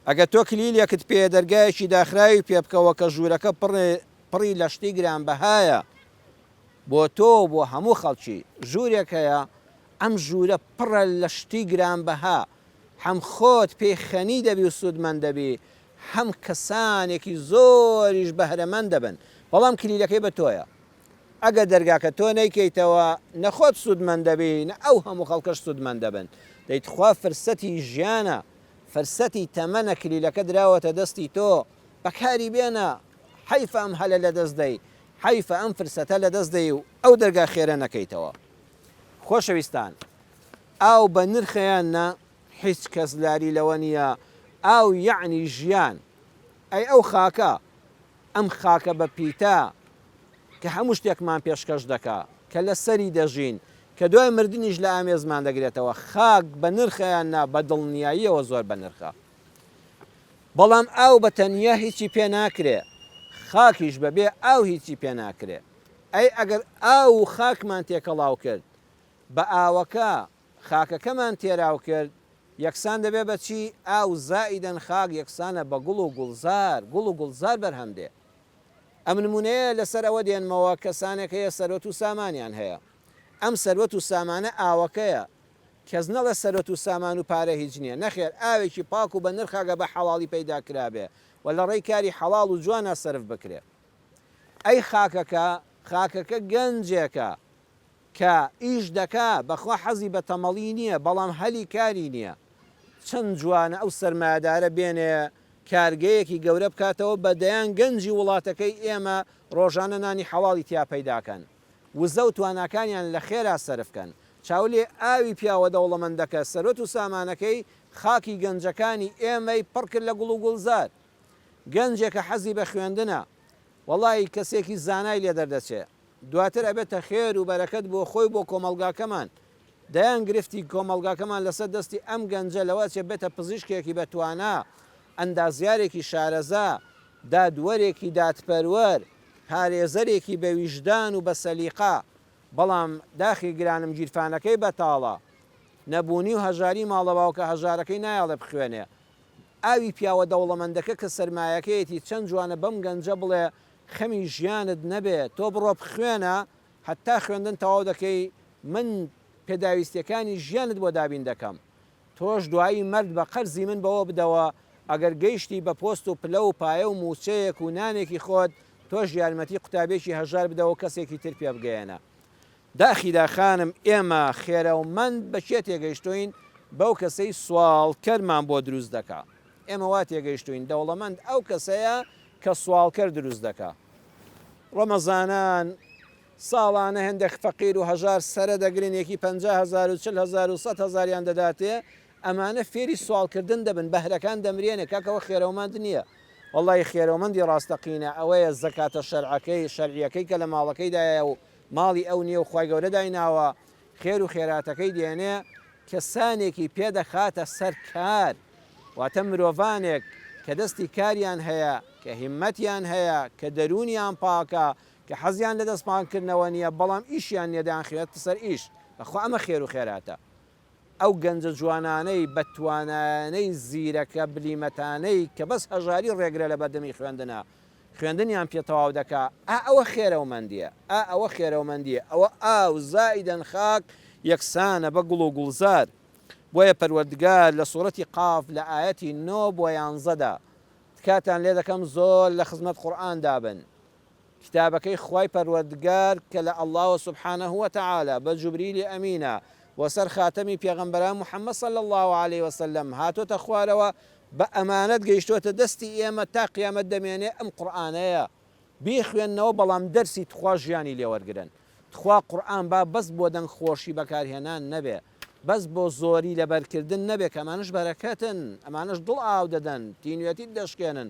ئەگەر تۆ کلیلێکت پێیە دەرگایەکی داخراوی پێ بکەوە کە ژوورەکە پڕی لە شتی گرانبەهایە بۆ تۆ و بۆ هەموو خەڵکی. ژوورێک هەیە ئەم ژوورە پڕە لە شتی گرانبەها هەم خۆت پێی خەنی دەبی و سوودمەند دەبی هەم کەسانێکی زۆریش بەهرەمەند دەبن بەڵام کلیلەکەی بە تۆیە ئەگەر دەرگاکە تۆ نەیکەیتەوە نە خۆت سوودمەند دەبی نە ئەو هەموو خەڵکەش سوودمەند دەبن دەی تخوا فرسەتی ژیانە فرسەتی تەمەنە کلیلەکە دراوەتە دەستی تۆ بەکاری بێنە حەیف ئەم هەلە لەدەست دەی حەیف ئەم فرسەتە لەدەست دەی و ئەو دەرگا خێرە نەکەیتەوە خۆشەویستان ئاو بە نرخەیان نا هیچ کەس لاری لەوە نییە ئاو یەعنی ژیان ئەی ئەو خاکە ئەم خاکە بە پیتە کە هەموو شتێکمان پێشکەش دەکا، کە لە سەری دەژین، کە دوای مردنیش لە ئامێزمان دەگرێتەوە، خاک بە نرخە یان نا، بە دڵنیاییەوە زۆر بە نرخە. بەڵام ئاو بە تەنیا هیچی پێ ناکرێ، خاکیش بە بێ ئاو هیچی پێ ناکرێ. ئەی ئەگەر ئاو و خاکمان تێکەڵاو کرد، بە ئاوەکە خاکەکەمان تێراو کرد یەکسان دەبێ بە چی؟ ئاو زائیدەن خاک یەکسانە بە گوڵ و گوڵزار، گوڵ و گوڵزار بەرهەم دێ. ئەم نموونەیە لە سەر ئەوە دێنمەوە کەسانێک هەیە سەروەت و سامانیان هەیە. ئەم سەروەت و سامانە ئاوەکەیە. کەس نەڵێ سەروەت و سامان و پارە هیچ نییە. نەخێر ئاوێکی پاک و بە نرخ ئەگە بە حەڵاڵی پەیدا کرابێ و لە ڕێی کاری حەڵاڵ و جوانا سەرف بکرێ. ئەی خاکەکە؟ خاکەکە گەنجێکە. کە ئیش دەکا بەخوا حەزی بە تەمەڵی نیە بەڵام هەلی کاری نیە چەند جوانە ئەو سەرمایەدارە بێنێ کارگەیەکی گەورە بکاتەوە بە دەیان گەنجی وڵاتەکەی ئێمە ڕۆژانە نانی حەڵاڵی تیا پەیداکەن وزە و تواناکانیان لە خێرا سەرف کەن چاو لێ ئاوی پیاوە دەوڵەمەندەکە سەروەت و سامانەکەی خاکی گەنجەکانی ئێمەی پڕ کرد لە گوڵ و گوڵزار گەنجێکە حەزی بە خوێندنە وەڵایی کەسێکی زانای لێ دەردەچێ دواتر ئەبێتە خێر و بەرەکەت بۆ خۆی و بۆ کۆمەڵگاکەمان، دەیان گرفتی کۆمەڵگاکەمان لەسەر دەستی ئەم گەنجە لەوە ئەچێت بێتە پزیشکێکی بە توانا، ئەندازیارێکی شارەزا، دادوەرێکی دادپەروەر، پارێزەرێکی بە ویژدان و بە سەلیقە، بەڵام داخی گرانم گیرفانەکەی بەتاڵە، نەبوونی و هەژاری ماڵە باوکە هەژارەکەی نایەڵێ بخوێنێ، ئاوی پیاوە دەوڵەمەندەکە کە سەرمایەکەیەتی چەند جوانە بەم گەنجە بڵێ خەمی ژیانت نەبێ تۆ بڕۆ بخوێنە هەتا خوێندن تەواو دەکەی من پێداویستیەکانی ژیانت بۆ دابین دەکەم تۆش دوایی مەرد بە قەرزی من بەوە بدەوە ئەگەر گەیشتی بە پۆست و پلە و پایە و موچەیەک و نانێکی خۆت تۆش یارمەتی قوتابێکی هەژار بدەوە کەسێکی تر پێ بگەیەنە داخیلا خانم ئێمە خێرەومەند بە کێ تێگەیشتووین بەو کەسەی سواڵ کەرمان بۆ دروست دەکا ئێمە وا تێگەیشتووین دەوڵەمەند ئەو کەسەیە کە سواڵکەر دروست دەکا ڕەمەزانان ساڵانە هێندێک فەقیر و هەژار سەرە دەگرن یەکی پەنجا هەزار و چل هەزار و سەد هەزاریان دەداتێ ئەمانە فێری سواڵکردن دەبن بەهرەکان دەمرێنێ کاکەوە خێرەومەند نییە وەڵڵاهی خێرەومەندی ڕاستەقینە ئەوەیە زەکاتە شەرعەکەی شەرعیەکەی کە لە ماڵەکەیدایە و ماڵی ئەو نێو خوای گەورە دایناوە خێر و خێراتەکەی دێنێ کەسانێکی پێ دەخاتە سەر کار واتە مرۆڤانێک کە دەستی کاریان هەیە کە هیمەتیان هەیە کە دەروونیان پاکە کە حەزیان لە دەست پاکردنەوە نیە بەڵام ئیشیان نیە دەیانخەوێتە سەر ئیش بەخوا ئەمە خێر و خێراتە ئەو گەنجە جوانانەی بە توانایانەی زیرەکە بلیمەتانەی کە بەس هەژاری ڕێگرە لە بەردەمی خوێندنە خوێندنیان پێ تەواو دەکا ئا ئەوە خێرەومەندیە ئا ئەوە خێرەومەندیە ئەوە ئاو زائیدەن خاک یەکسانە بە گوڵ و گوڵزار بۆیە پەروەردگار لە سورەتی قاف لە ئایەتی نۆ بۆ یانزەدا تکاتان لێ دەکەم زۆر لە خزمەت قورئان دابن کتابەکەی خوای پەروەردگار کە لە اللە سبحانە وتعالی بە جبریلی ئەمینە و سەر خاتەمی پێغەمبەران محمد صلی اللە علیە وسلم هاتۆتە خوارەوە بە ئەمانەت گەیشتۆتە دەستی ئێمە تا قیامەت دەمێنێ ئەم قورئانەیە بیخوێننەوە بەڵام دەرسی تخوا ژیانی لێ وەرگرن تخوا قورئان با بەس بۆ دەنگ خۆشی بەکارهێنان نەبێ بەس بۆ زۆری لەبەرکردن نەبێ کە ئەمانەش بەرەکەتن ئەمانەش دڵ ئاو دەدەن تینوێتیت دەشکێنن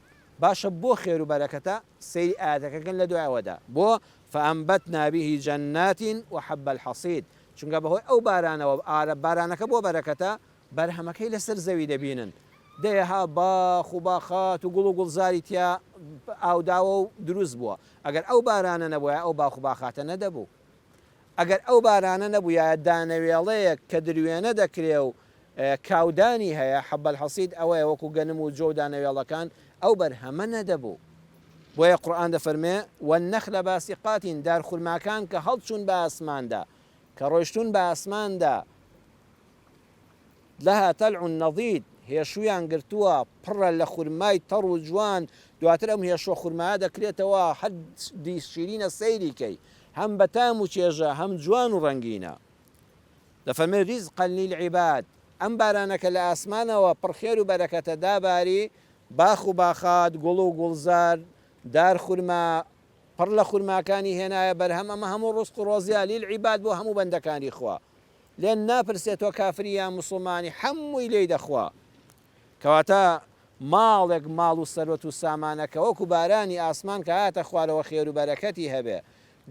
باشە بۆ خێرو بەرەکەتە سەیری ئایەتەکە کەن لەدوای ئەوەدا بۆ فانبتنا به جنات وحب الحصید چونکە بەهۆی ئەو بارانەوە ئارە بارانەکە بۆ بەرەکەتە بەرهەمەکەی لەسەر زەوی دەبینن دەیەها باخ و باخات و گوڵ و گوڵزاری تیا ئاوداوەو دروست بووە ئەگەر ئەو بارانە نەبوایە ئەو باخ و باخاتە نەدەبوو ئەگەر ئەو بارانە نەبوویایە دانەوێڵەیەک کە دروێنە دەکرێ و کاودانی هەیە، حب الحصید، ئەوەیە وەکوو گەنم و جۆ و دانەوێڵەکان، ئەو بەرهەمە نەدەبوو. بۆیە قورئان دەفەرموێ، والنخل باسقات، دارخورماکان کە هەڵچوون بە ئاسماندا، کە ڕۆیشتوون بە ئاسماندا، لها طلع نضید، هێشوویان گرتووە، پڕە لە خورمای تەڕ و جوان، دواتر ئەم هێشووە خورمایە دەکرێتەوە هەر دی شیرینە سەیری کەی، هەم بە تام و چێژە هەم جوان و ڕەنگینە. دەفەرمێ، رزقا للعباد، ئەم بارانە کە لە ئاسمانەوە پڕ خێر و بەرەکەتە داباری، باخ و باخات، گوڵ و گوڵزار، دار خورما، پڕ لە خورماکانی هێنایە بەرهەم، ئەمە هەموو ڕزق و ڕۆزیە، للعباد، بۆ هەموو بەندەکانی خوا، لێن ناپرسێ تۆ کافری یان موسڵمانی حەمووی لێی دەخوا کەواتە ماڵێک ماڵ و سەروەت و سامانەکە وەکو بارانی ئاسمان کە هاتە خوارەوە خێرو بەرەکەتی هەبێ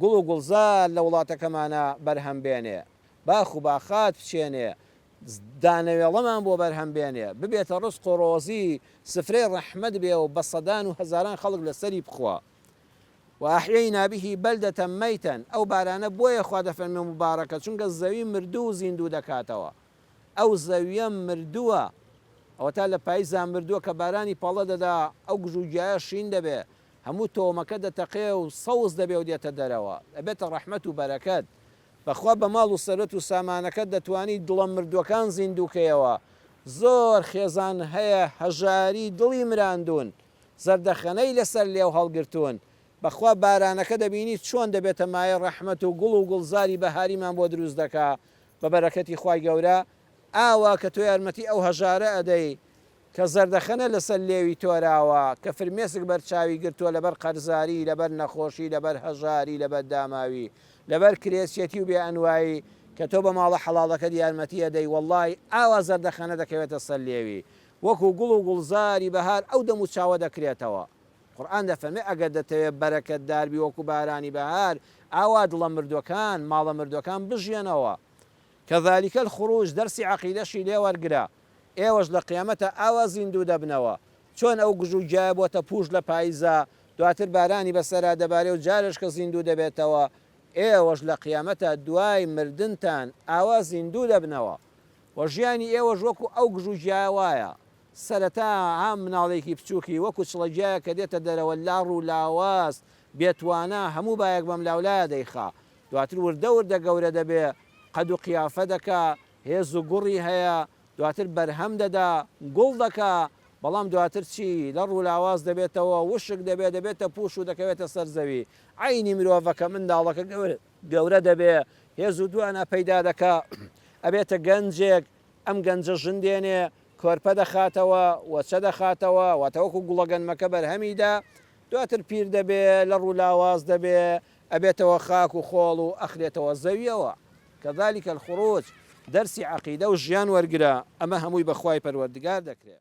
گوڵ و گوڵزار لە وڵاتەکەمانا بەرهەم بێنێ باخ و باخات بچێنێ دانەوێڵەمان بۆ بەرهەم بێنێ ببێتە ڕزق و ڕۆزی سفرەی ڕەحمەت بێ و بە سەدان و هەزاران خەڵک لە سەری بخوا وأحیینا به بلدة میتە، ئەو بارانە بۆیە خوا دەفەرمێ موبارەکە چونکە زەوی مردوو زیندوو دەکاتەوە، ئەو زەویە مردووە ئەوەتا لە پایزدا مردووە کە بارانی پەڵە دەدا ئەو گژوگیایە شین دەبێ هەموو تۆومەکە دەتەقێ و سەوز دەبێ و دێتە دەرەوە ئەبێتە ڕەحمەت و بەرەکەت، بەخوا بە ماڵ و سەروەت و سامانەکەت دەتوانی دڵە مردووەکان زیندوو کەیەوە، زۆر خێزان هەیە هەژاری دڵی مراندوون زەردەخەنەی لەسەر لێو هەڵگرتوون، بەخوا بارانەکە دەبینی چۆن دەبێتە مایەی ڕەحمەت و گوڵ و گوڵزاری بەهاریمان بۆ دروست دەکا بە بەرەکەتی خوای گەورە ئاوا کە تۆ یارمەتی ئەو هەژارە ئەدەی کە زەردەخەنە لەسەر لێوی تۆراوە کە فرمێسک بەر چاوی گرتووە لەبەر قەرزاری لەبەر نەخۆشی لەبەر هەژاری لەبەر داماوی لەبەر کرێچیەتی و بێ ئەنوایی کە تۆ بە ماڵە حەڵاڵەکەت یارمەتی ئەدەی وەڵڵاهی ئاوا زەردەخەنە دەکەوێتە سەر لێوی وەکو گوڵ و گوڵزاری بەهار ئەو دەمو چاوە دەکرێتەوە. قورئان دەفەرمێ، ئەگەر دەتەوێ بەرەکەتدار بی وەکو بارانی بەهار، ئاوا دڵە مردوەکان، ماڵە مردوەکان بژیەنەوە. کذلک الخروج دەرسی عەقیدەشی لێ وەرگرە. ئێوەش لە قیامەتا ئاوا زیندوو دەبنەوە. چۆن ئەو گژو گیایە بۆتە پووش لە پایزا، دواتر بارانی بەسەرا دەبارێ و جارێش کە زیندوو دەبێتەوە، ئێوەش لە قیامەتا دوای مردنتان ئاوا زیندوو دەبنەوە. و ژیانی ئێوەش وەکو ئەو گژو گیایە وایە سەرەتا ها مناڵێکی بچوکی وەکو چڵە گیایە کە دێتە دەرەوە لاڕ و لاواز بێ توانا هەموو بایەک بەم لاو لایە دەیخا دواتر وردە وردە گەورە دەبێ قەد و قیافە دەکا هێز و گوڕی هەیە دواتر بەرهەم دەدا گوڵ دەکا بەڵام دواتر چی لەڕ و لاواز دەبێتەوە وشک دەبێ دەبێتە پوش و دەکەوێتە سەر زەوی عەینی مرۆڤەکە منداڵەکە گەورە گەورە دەبێ هێز و دوانا پەیدا دەکا ئەبێتە گەنجێک ئەم گەنجە ژن دێنێ کۆرپە دەخاتەوە وەچە دەخاتەوە واتە وەکو گوڵە گەنمەکە بەرهەمی دا دواتر پیر دەبێ لە ڕوو لاواز دەبێ ئەبێتەوە خاک و خۆڵ و ئەخرێتەوە زەویەوە کەذالک الخروج دەرسی عەقیدە و ژیان وەرگرە ئەمە هەمووی بەخوای پەروەردگار دەکرێ.